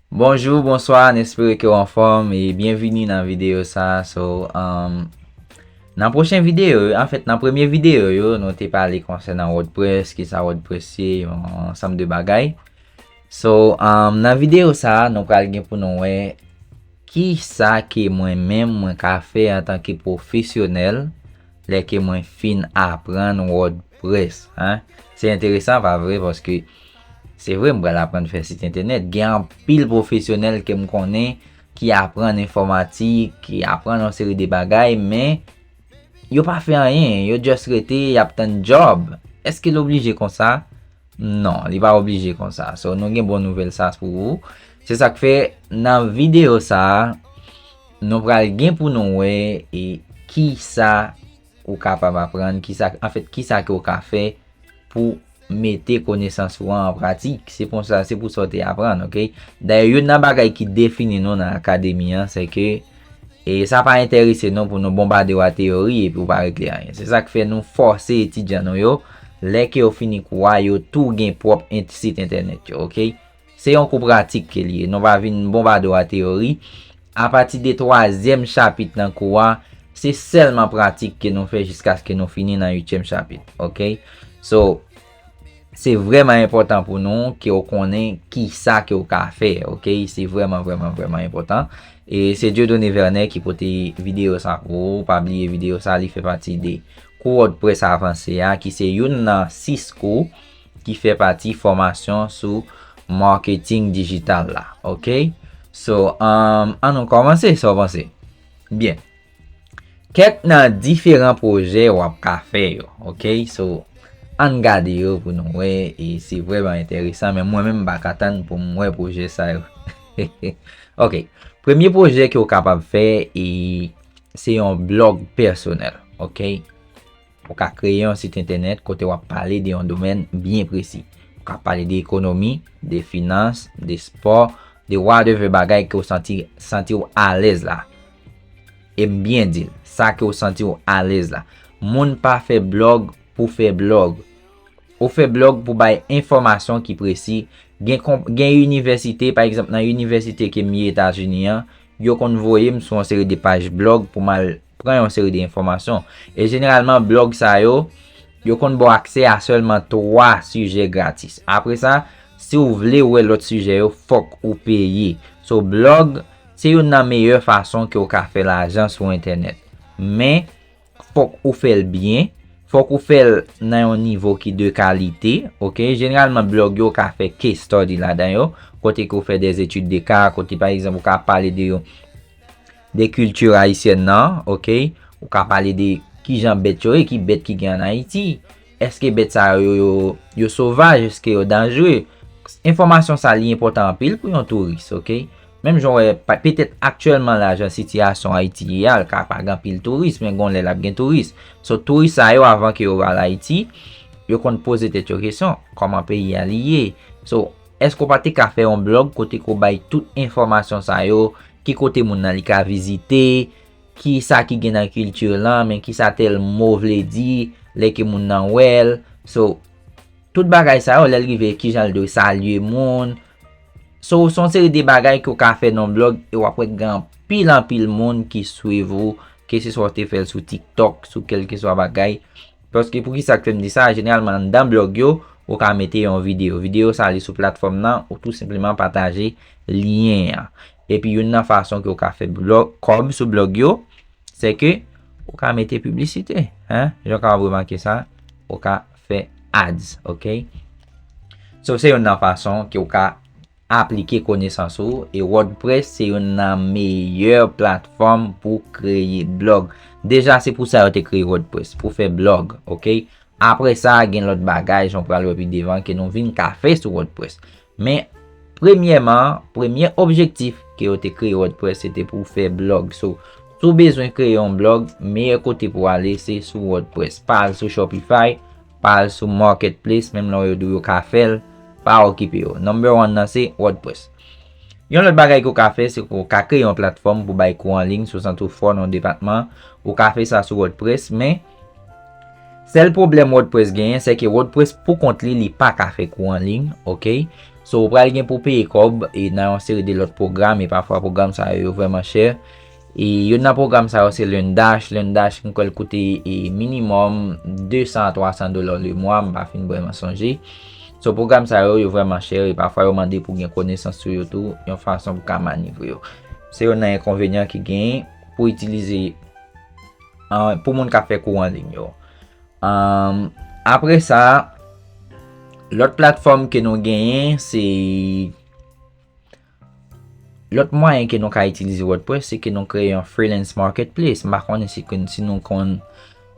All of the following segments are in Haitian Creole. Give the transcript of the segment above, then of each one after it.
Bonjou, bonswa, n espere ke w anfòm e byenvini nan videyo sa a. So, nan pwochen videyo yo, anfèt nan premye videyo yo, nou te pale konsènan Wordpress, ki sa Wordpress ye, yon ansanm de bagay. So, nan videyo sa a, nou pral gen pou nou wè ki sa ke mwen menm mwen ka fè antanke pwofesyonèl lè ke mwen fin aprann Wordpress. Res. An. Se enteresan pa vre paske se vre m pral aprann fè sit entènèt. Gen anpil pwofesyonèl ke m konnen ki aprann enfòmatik, ki aprann yon seri de bagay men yo pa fè anyen. Yo just rete y ap tann djòb. Eske l oblije konsa? Non, li pa oblije konsa. So nou gen bon nouvèl sa pou ou. Se sa k fè nan videyo sa a nou pral gen pou nou wè e kisa. Ou kapab aprann kisa, anfèt, kisa ke ou ka fè pou mete konesans ou an an pratik. Se pou sa, se pou sa ou te aprann, ok? Dayè, youn nan bagay ki defini nou nan Akademi an, se ke, e sa pa enterese nou pou nou bonbade ou a teyori epi ou pa regle anyen. Se sa k fè nou fòse etidyan nou yo, lè ke yo fini kou a, yo tou gen pwòp ent, sit entènèt yo, ok? Se yon kou pratik ke li ye. Nou va vin bonbade w a teyori. Apati de twazyèm chapit nan kou a, se sèlman pratik ke nou fè jiskaske nou fini nan uityèm chapit. Ok? So, se vrèman enpòtan pou nou ke w konnen kisa ke w ka fè. Ok? Se vrèman, vrèman, vrèman enpòtan. E se Dieudonné Vernet ki pote videyo sa pou ou. Pa bliye videyo sa li fè pati de kou Wòdprès avanse a ki se youn nan 6 kou. ki fè pati fòmasyon sou marketing digital la ok so an nou kòmanse sa w panse byen kèk nan diferan pwojè w ap ka fè yo ok so an n gade yo pou nou wè e se vreman enteresan men mwen menm m pa ka tann pou m wè pwojè sa yo he he ok premye pwojè ke w kapab fè e se yon blog pèsonèl ok. Ou ka kreye yon sit entènèt kote w ap pale de yon domèn byen presi. Ou ka pale de ekonomi, de finans, de spò, de whatever bagay ke w santi santi w alèz la. E m byen di l, sa ke w santi w alèz la. Moun pa fè blòg pou fè blòg. Ou fè blòg pou bay enfòmasyon ki presi. Gen konp, gen inivèsite, pa egzanp nan inivèsite ke m ye Etazini an, yo konn voye m sou yon seri de paj blòg pou m al pran yon seri de enfòmasyon. E jeneralman blòg sa yo, yo konn ba w aksè a sèlman 3 sijè gratis. Apre sa, si w vle wè lòt sijè yo, fòk ou peye. So, blòg, se youn nan meyè fason ke w ka fè lajan sou entènèt. Men, fòk ou fè l byen, fòk ou fè l nan yon nivo ki de kalite, ok. Jeneralman blòg yo, ou ka fè case study ladan yo, kote ke w fè des études de cas, kote pa egzanp ou ka pale de yon. De culture Haïtienne nan ok Ou ka pale de kijan bèt yo ye ki bèt ki gen an Ayiti Eske bèt sa yo yo yo sovaj eske yo danjre Enfòmasyon sa li enpòtan anpil pou yon touris ok Menm jan ou wè petèt aktyèlman la jan sitiyasyon Ayiti ye a l ka pa gen anpil touris men gon lè l ap gen touris So touris sa yo avan ke yo al Ayiti yo konn poze tèt yo kesyon kòman peyi a li ye So Eske w pa te ka fè yon blog kote ke w bay tout enfòmasyon sa yo, ki kote moun nan li ka vizite, ki sa ki gen nan culture lan, men ki sa tèl mo vle di, lè ke moun nan wè l, so tout bagay sa yo lè l rive ki jan l dwe salye moun, so se yon seri de bagay ke w ka fè nan yon blog e w ap wè gen anpil anpil moun ki swiv ou, ke se swa w te fè l sou tiktok, sou kelkeswa bagay. Paske pou kisa k fè m di sa, jeneralman anndan blog yo, ou ka mete yon videyo. Videyo sa li sou platfòm nan, ou tou senpleman pataje lyen an. Epi youn nan fason ke ou ka fè kòb sou blog yo, se ke ou ka mete piblisite. Jan w kapab remake sa, ou ka fè ads. Sof se youn nan fason ke ou ka Aplike konesans ou e WordPress se youn nan meyè platfòm pou kreye blog. Deja se pou sa yo te kreye WordPress, pou fè blog, ok? Apre sa gen lòt bagay jan w pral wè pi devan ke nou vin ka fè sou WordPress. Men, premyèman, premye objektif ke yo te kreye WordPress se te pou fè blog. So, si w bezwen kreye yon blog, meyè kote pou w ale se sou WordPress. Pa al sou Shopify. Pa al sou marketplace menm lè yo di w yo ka fè l, pa okipe yo. Number one nan se WordPress. Yon lòt bagay ke w ka fè se ke w ka kreye yon platfòm pou bay kou anliy sou sant ou fò nan yon depatman. Ou ka fè sa sou WordPress men sèl pwoblèm WordPress genyen se ke WordPress pou kont li, li pa ka fè kou anliy ok. So ou pral gen pou w peye kòb e nan yon seri de lòt pwogram e pafwa pwogram sa yo yo vrèman chè. E youn nan pwogram sa yo se LearnDash. LearnDash m kwè l koute minimòm 200 a 300 dola lemwa, m pa fin vrèman sonje. So pwogram sa yo, yo vrèman chè e pafwa yo mande pou gen konesans sou yo tou yon fason pou ka manivre yo. Se youn nan enkonvenyan ki genyen pou itilize pou moun k ap fè kou anliy yo. Apre sa, lòt platfòm ke nou genyen se Lòt mwayen ke nou ka itilize wordpress se ke nou kreye yon freelance marketplace, m pa konnen si ke si nou konn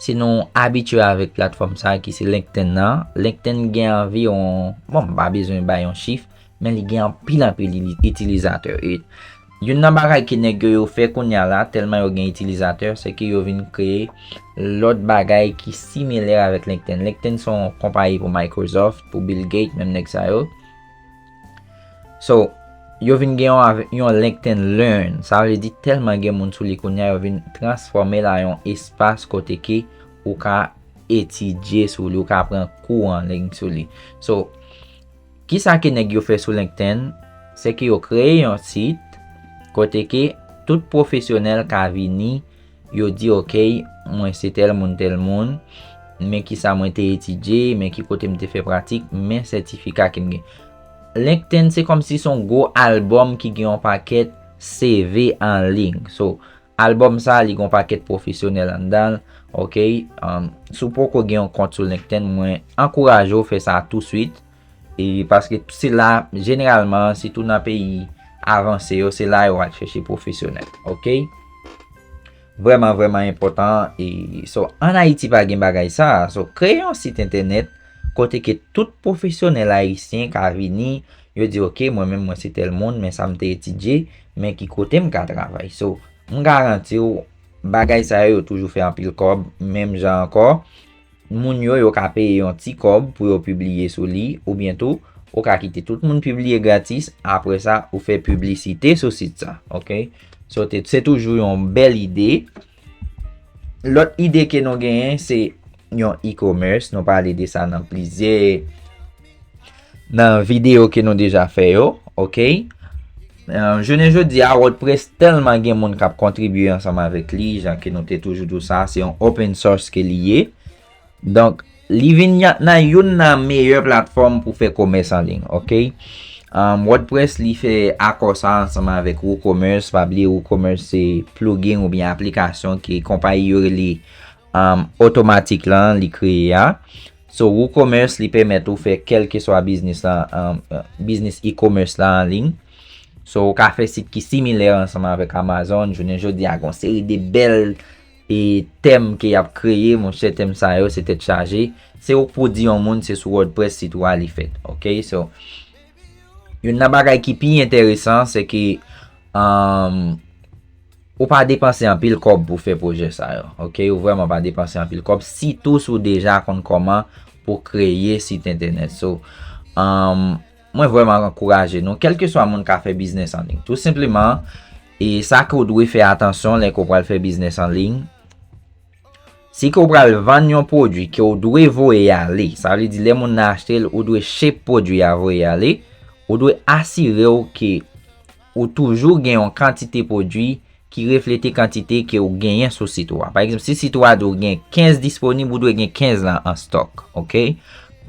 si nou abitye avèk platfòm sa ki se LinkedIn nan, LinkedIn gen anviwon, bon m pa bezwen bay yon chif, men li gen anpil anpil itilizatè e youn nan bagay ke nèg yo yo fè kounya la tèlman yo gen itilizatè se ke yo vin kreye lòt bagay ki similè avèk LinkedIn. LinkedIn se yon konpayi pou Microsoft, pou Bill Gates menm nèg sa yo. So, yo vin gen yon LinkedIn Learn. Sa vle di tèlman gen moun sou li kounye a, yo vin transfòme la yon espas kote ke ou ka etidye sou li, ou ka pran kou an ling sou li. So, ki sa ke nèg yo fè sou LinkedIn? Se ke yo kreye yon sit kote ke tout pwofesyonèl ka vini. Yo di ok, mwen se tèl moun tèl moun, men ki sa mwen te etidye, men ki kote m te fè pratik, men sètifika ke m gen. LinkedIn se kòm si son gwo albòm ki gen yon pakèt CV an lig. So, albòm sa li gen yon pakèt pwofesyonèl anndan l, ok. Si w poko gen yon kont sou LinkedIn, mwen ankouraje w fè sa touswit. E paske se la jeneralman se tou nan peyi avanse yo se la yo al chèche pwofesyonèl. Ok. Vreman vreman enpotan. E so an Ayiti pa gen bagay sa. So kreye yon sit entènèt kote ke tout pwofesyonèl ayisyen ka vini. Yo di ok mwen menm mwen se tel moun men sa m te etidye. Men ki kote m ka travay. So m garanti w bagay sa yo yo toujou fè anpil kob. Menm jan anko. Moun yo, yo ka peye yon ti kòb pou yo pibliye sou li, oubyen tou, ou ka kite tout moun pibliye gratis, apre sa ou fè piblisite sou sit sa, ok. So, se toujou yon bèl ide. Lòt ide ke nou genyen, se yon e-commerce, nou pale de sa nan plizyè. nan video ke nou deja fè yo, ok, jounen jodi a wordpress tèlman gen moun kap kontribye ansanm avèk li, jan ke nou te toujou di w sa, se yon open source ke li ye, donk li vin nan youn nan meyè platfòm pou fè komès an ling, ok, wordpress li fè akò sa ansanm avèk woocommerce, pa bliye woocommerce se plugin ou byen aplikasyon ke konpayi yo rele automatic lan li kreye a, Sou WooCommerce, li pèmèt ou fè kèlkeswa biznis la, biznis e-commerce la anliy. So ou ka fè sit ki similè ansanm avèk Amazon, jounen jodi a gon seri de bèl e tèm ke yap kreye, monchè tèm sa yo se tèt chaje, se ou k pou di yon moun se sou WordPress sit ou a li fèt ok. So youn nan bagay ki pi entèresan se ke. Ou pa depanse anpil kòb pou fè pwojè sa yo. Ok ou vrèman pa depanse anpil kòb sitou si w deja konn kòman pou kreye sit entènèt. So mwen vrèman ankouraje nou kèlkeswa moun ka fè biznes an liy. Tou senpleman e sa ke w dwe fè atansyon lè ke w pral fè biznes an liy. Si ke w pral vann yon pwodwi ke w dwe voye ale. Sa vle di lè moun nan achte l ou dwe ship pwodwi a voye ale. Ou dwe asire w ke. Ou toujou gen yon kantite pwodui ki reflete kantite ke ou genyen sou sit ou a. Pa egzanp, si sit ou a di w gen 15 disponib, ou dwe gen 15 lan an stòk. Ok?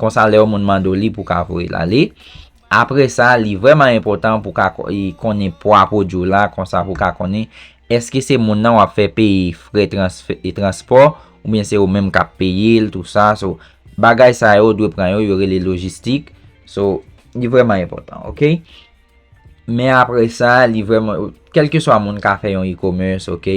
Konsa lè yon moun mande w li pou w ka voye l ale. Apre sa, li vrèman enpòtan pou w ka konnen pwa pwodui w la, konsa pou w ka konnen eske se moun nan w ap fè peye frè transpò, oubyen se ou menm k ap peye l, tou sa. So, bagay sa yo ou dwe pran yo, yo rele lojistik. So, li vrèman enpòtan. Ok? Men apre sa, li vreman, kelke swa moun ka fè yon e-commerce, ok,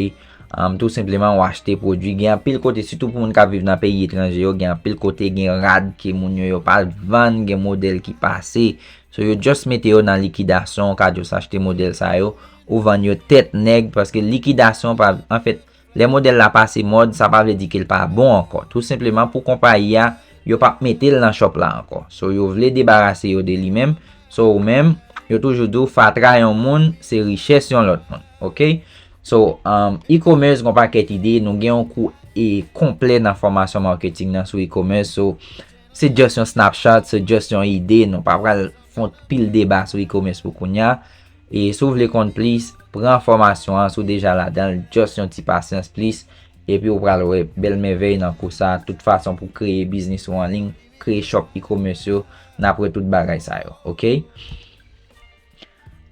tout senpleman ou achte pwodwi, gen anpil kote, sitou pou moun kap viv nan peyi etranje yo, gen anpil kote gen rad ke moun yo yo pa vann, gen model ki pase, so yo just mete yo nan likidasyon, ou ka just achte model sa yo, ou vann yo tèt nèg, paske likidasyon pa, anfèt, Lè modèl la pase mòd, sa pa vle di ke l pa bon ankò. Tou senpleman pou konpayi a, yo p ap mete l nan shop la ankò. So yo vle debarase yo de li menm. So ou menm, yo toujou di w fatra yon moun se richès yon lòt moun. Ok? So, e-commerce gon pakèt ide, nou gen yon kou e konplè nan fòmasyon marketing nan sou e-commerce. So, se just yon snapshot, se just yon ide, nou pa pral fon pil deba sou e-commerce pou kounya. E si w vle konn plis, pran fòmasyon an, si w deja ladan l, just yon ti pasyans plis, epi w pral wè bèl mèvèy nan kou sa, tout fason pou kreye biznis ou anliy, kreye shop e-commerce yo, n ap wè tout bagay sa yo, ok.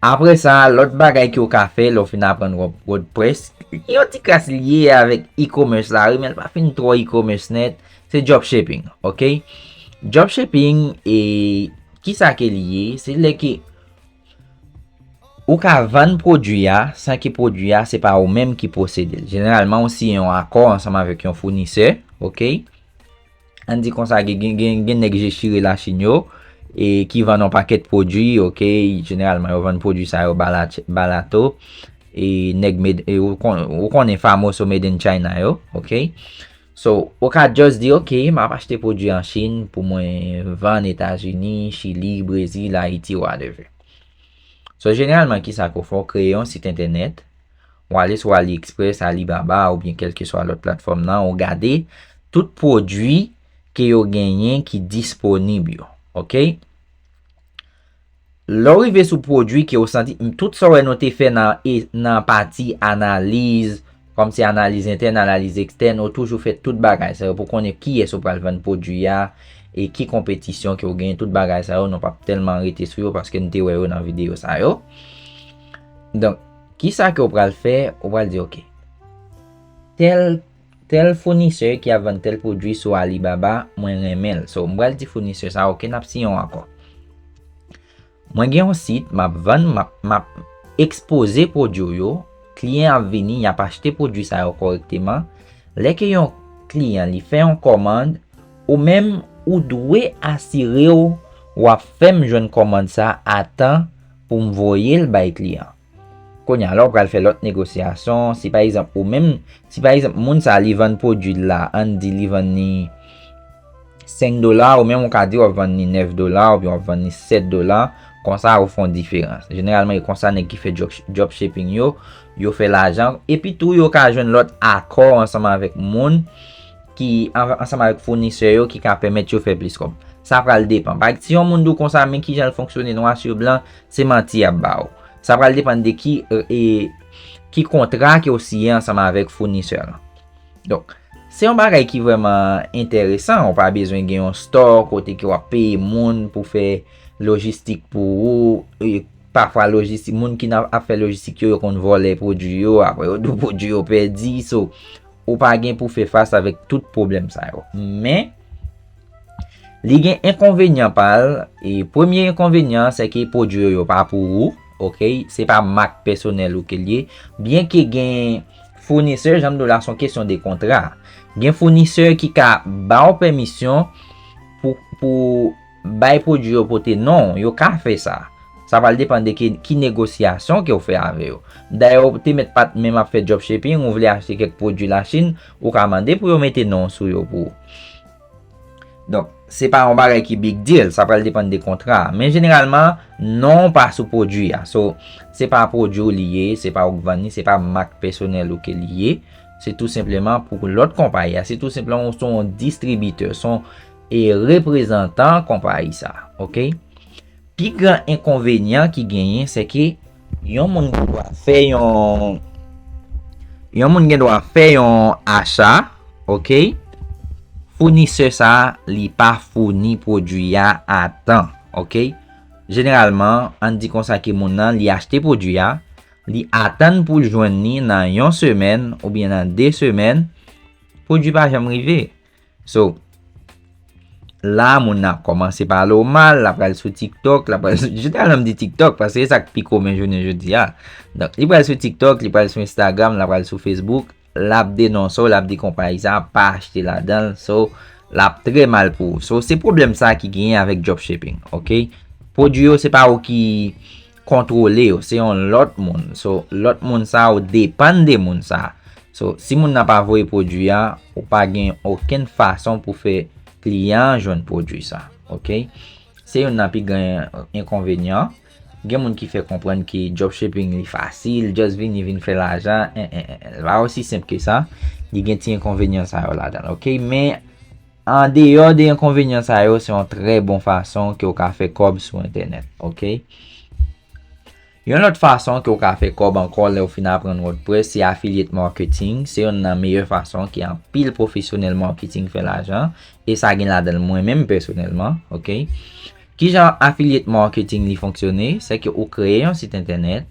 Apre sa, lòt bagay ke w ka fè lè w fin aprann wordpress, yon ti kras lye avèk e-commerce la wi, men l pa fin twò e-commerce nèt, se dropshipping, ok. Dropshipping e, kisa ke li ye, se lè ke Ou ka vann pwodui a san ke pwodui a se pa ou menm ki posede l. Jeneralman ou siyen yon akò ansanm avèk yon founisè, ok. Ann di konsa gen nèg je chire Lachin yo e ki vann yon pakèt pwodui, ok. Jeneralman yo vann pwodui sa yo barato e nèg made, ou konnen famoso made in China yo, ok. So, ou ka just di ok, m ap achte pwodui an Chin pou mwen vann Etazini, Chili, Brezil, Ayiti whatever. So, jeneralman kisa ke w fè, w kreye yon sit entènèt, w ale sou AliExpress, Alibaba oubyen kèlkeswa lòt platfòm nan, ou gade tout pwodui ke yo genyen ki disponib yo. Ok? Lè w rive sou pwodui ke w santi tout sa w wè nou te fè nan nan pati analiz, kòm se analiz entèn, analiz ekstèn, ou toujou fè tout bagay sa yo pou konnen kiyès ou pral vann pwodui a, e ki konpetisyon ke w genyen, tout bagay sa yo nou pap tèlman rete sou yo paske nou te wè yo nan videyo sa yo. Donk, kisa ke w pral fè, ou pral di ok, tèl. Tel founisè ki ap vann tel pwodwi sou Alibaba mwen renmen l so m pral di founisè sa ok nap siyen yon akò. Mwen gen yon sit map vann map ekspoze pwodwi w yo, kliyen ap vini yap achte pwodwi sa yo kòrekteman, lè ke yon kliyan li fè yon kòmand ou menm ou dwe asire w wap fè m jwenn kòmand sa a tan pou m voye l bay kliyan. Kounye a la ou pral fè lòt negosiyasyon, si pa egzanp ou menm, si pa egzanp moun sa li vann pwodwi l la, ann di li vann li 5 dola, ou menm ou ka di w ap vann li 9 dola oubyen w ap vann li 7 dola, konsa ou fè yon diferans. Jeneralman e konsa nèg ki fè dropshipping yo, yo fè lajan, epi tou yo ka jwenn lòt akò ansanm avèk moun ki, ansanm avèk founisè yo ki ka pèmèt yo fè plis kòb. Sa pral depan. Paregz, si yon moun di w konsa men kijan l fonksyone nwa sou blan, Se manti yap ba ou. Sa pral depann de ki e ki kontra ke ou siyen ansanm avèk founisè lan. Donk, se yon bagay ki vreman enteresan. Ou pa bezwen gen yon store kote ke wap peye moun pou fè lojistik pou ou. E pafwa lojistik, moun ki nan ap fè lojistik yo, yo konn vòlè pwodwi yo, apre yo dou pwodwi yo pèdi. So, ou pa gen pou fè fas avèk tout pwoblèm sa yo. Men. Li gen enkonvenyan pa l, e premye enkonvenyan an se ke pwodui yo yo pa pou ou, ok, se pa mak pèsonèl ou ke l ye, byen ke gen founisè, jan m di w la s on kesyon de kontra, gen founisè ki ka ba w pèmisyon pou pou bay pwodui yo pote non w, yo ka fè sa, sa pral depann de ke ki negosyasyon ke w fè avè yo. Dayè ou te mèt pa t menm ap fè dropshipping, ou vle achte kèk pwodui Lachin, ou ka mande pou yo mete non w sou yo pou ou. Donk, se pa yon bagay ki big deal, sa pral depann de kontra a. Men jeneralman, non pa sou pwodui a. So, se pa pwodui ou li ye, se pa ou k vann li, se pa mak pèsonèl ou ke li ye. Se tou senpleman pou lòt konpayi a. Se tou senpleman ou son distribitè, son e reprezantan konpayi sa. Ok? Pi gran enkonvenyan ki genyen se ke yon moun gen dwa fè yon yon moun gen dwa fè yon acha ok founisè sa li pa founi pwodwi a a tan ok jeneralman ann di konsa ke moun nan li achte pwodwi a li atann pou l jwenn li nan yon semèn oubyen nan 2 semèn pwodwi pa janm rive. So, la moun nan ap kòmanse pale w mal, l ap pral sou TikTok, l ap pral sou, jeneral m di TikTok paske se sa k pi komen jounen jodi a. Donk, li pral sou TikTok, li pral sou Instagram, l ap pral sou Facebook, l ap denonse w, l ap di konpayi sa a, pa achte ladan l. So, l ap trè mal pou ou. So, se pwoblèm sa a ki genyen avèk dropshipping, ok? Pwodui yo se pa ou ki kontwole yo se yon lòt moun so lòt moun sa ou depann de moun sa so si moun nan pa voye pwodwi a ou pa gen okenn fason pou fè kliyan an jwenn pwodwi sa ok se youn nan pi gran enkonvenyan gen moun ki fè konprann ke dropshipping li fasil just vini vin fè lajan en en en li pa osi senp ke sa li gen ti enkonvenyan sa yo ladan l ok men An deyò de enkonvenyan sa yo se yon trè bon fason ke w ka fè kòb sou entènèt ok. Yon lòt fason ke w ka fè kòb ankò lè w fin aprann wordpress se affiliate marketing se yonn nan meyè fason ke anpil pwofesyonèl marketing fè lajan e sa gen ladan l mwen menm pèsonèlman ok. Kijan affiliate marketing li fonksyone se ke ou kreye yon sit entènèt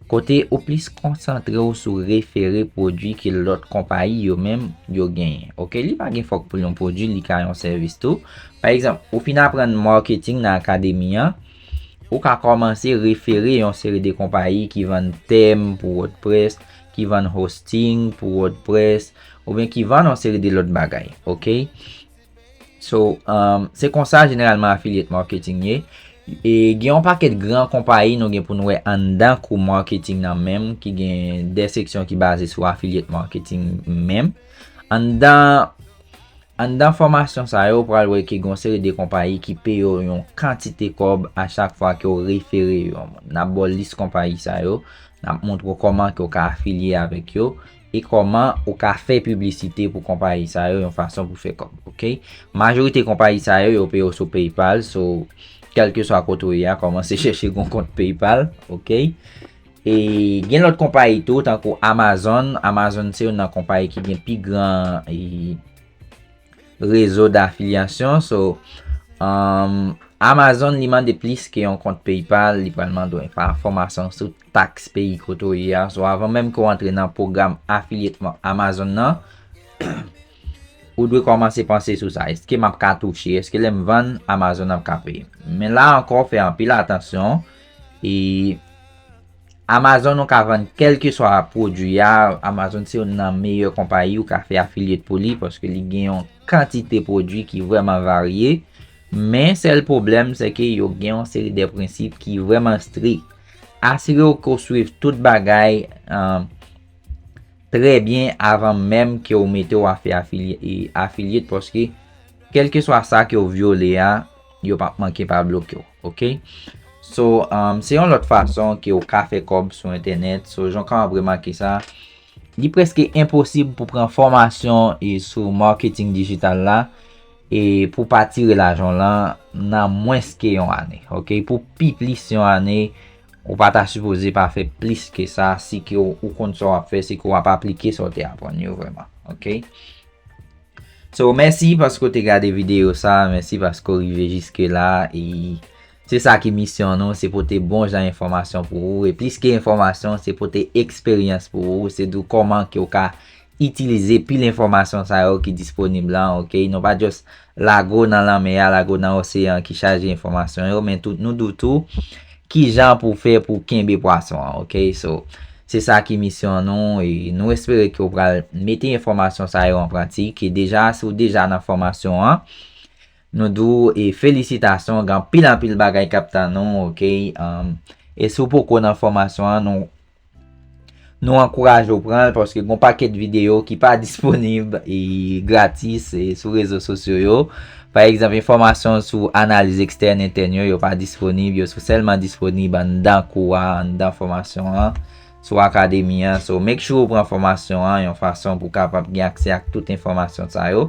Kote ou plis konsantre w sou refere pwodwi ke lòt konpayi yo menm yo genyen. Ok, li pa gen fòk pou yon pwodwi, li ka yon sèvis tou. Pa egzanp, ou fin aprann marketing nan akademi an, ou ka kòmanse refere yon seri de konpayi ki vann tèm pou wordpress, ki vann hosting pou wordpress, oubyen ki vann yon seri de lòt bagay. Ok. So, se konsa jeneralman affiliate marketing ye. E gen yon pakèt gran konpayi nou gen pou nou wè anndan kou marketing nan menm ki gen de seksyon ki baze sou affiliate marketing menm. Anndan anndan fòmasyon sa yo ou pral wè ke gen yon seri de konpayi ki peye w yon kantite kòb a chak fwa ke w refere yon moun. N ap ba w lis konpayi sa yo, n ap montre w kòman ke w ka afilye avèk yo. E kòman ou ka fè piblisite pou konpayi sa yo yon fason pou fè kòb ok. Majorite konpayi sa yo yo peye w sou paypal so kèlke swa kote ou ye a kòmanse chèche yon kont paypal ok. E gen lòt konpayi tou tankou amazon, amazon se yon nan konpayi ki gen pi gran rezo dafilyasyon so amazon li mande plis ke yon kont paypal li pral mande w enfòmasyon sou. taks peyi kote w ye a, so avan menm ke w antre nan pwogram afilyetman Amazon nan, ou dwe kòmanse panse sou sa, eske m ap ka touche, eske lè m vann, Amazon ap ka peye m? Men la ankò fè anpil atansyon, e Amazon ou ka vann kèlkeswa pwodui a, Amazon se youn nan meyè konpayi ou ka fè afilyet pou li, paske li gen yon kantite pwodui ki vrèman varye, men sèl pwoblèm se ke yo gen yon seri de prensip ki vrèman strik. Asire w ke w swiv tout bagay trè byen avan menm ke w mete w afe afiliate paske kelkeswa sa ke w vyole a, yo pap manke pa bloke w. Ok. So, se yon lòt fason ke w ka fè kòb sou entènèt. So, jan w ka ap remake sa, li preske enposib pou pran fòmasyon sou marketing digital la. E pou pa tire lajan w lan nan mwens ke yon ane. Ok, pou pi plis yon ane, ou pa ta sipoze pa fè plis ke sa si ke ou konn sa w ap fè, si ke w ap aplike sa w te aprann yo vreman. Ok. So, mèsi paske w te gade videyo sa, mèsi paske w rive jiske la, e Se sa ki misyon nou, se pote bon jan enfòmasyon pou ou, e plis ke enfòmasyon, se pote eksperyans pou ou, se di w kòman ke w ka itilize pil enfòmasyon sa yo ki disponib la, ok, nou pa just lage w nan lanmè a, lage w nan oseyan ki chaje enfòmasyon yo, men tou nou di w tou kijan pou w fè pou w kenbe pwason an, ok, so se sa ki misyon nou, e nou espere ke w pral mete enfòmasyon sa yo an pratik, e deja si w deja nan fòmasyon an. Nou di w e felisitasyon gen anpil anpil bagay kap tann ou ok e si w poko nan fòmasyon an nou nou ankouraje w pran l paske gon pakèt videyo ki pa disponib e gratis e sou rezo sosyo yo pa egzanp enfòmasyon sou analiz ekstèn entèn yo yo pa disponib yo sou sèlman disponib anndan kou a anndan fòmasyon an sou akademi an so make sure ou pran fòmasyon an yon fason pou kapab gen aksè ak tout enfòmasyon sa yo.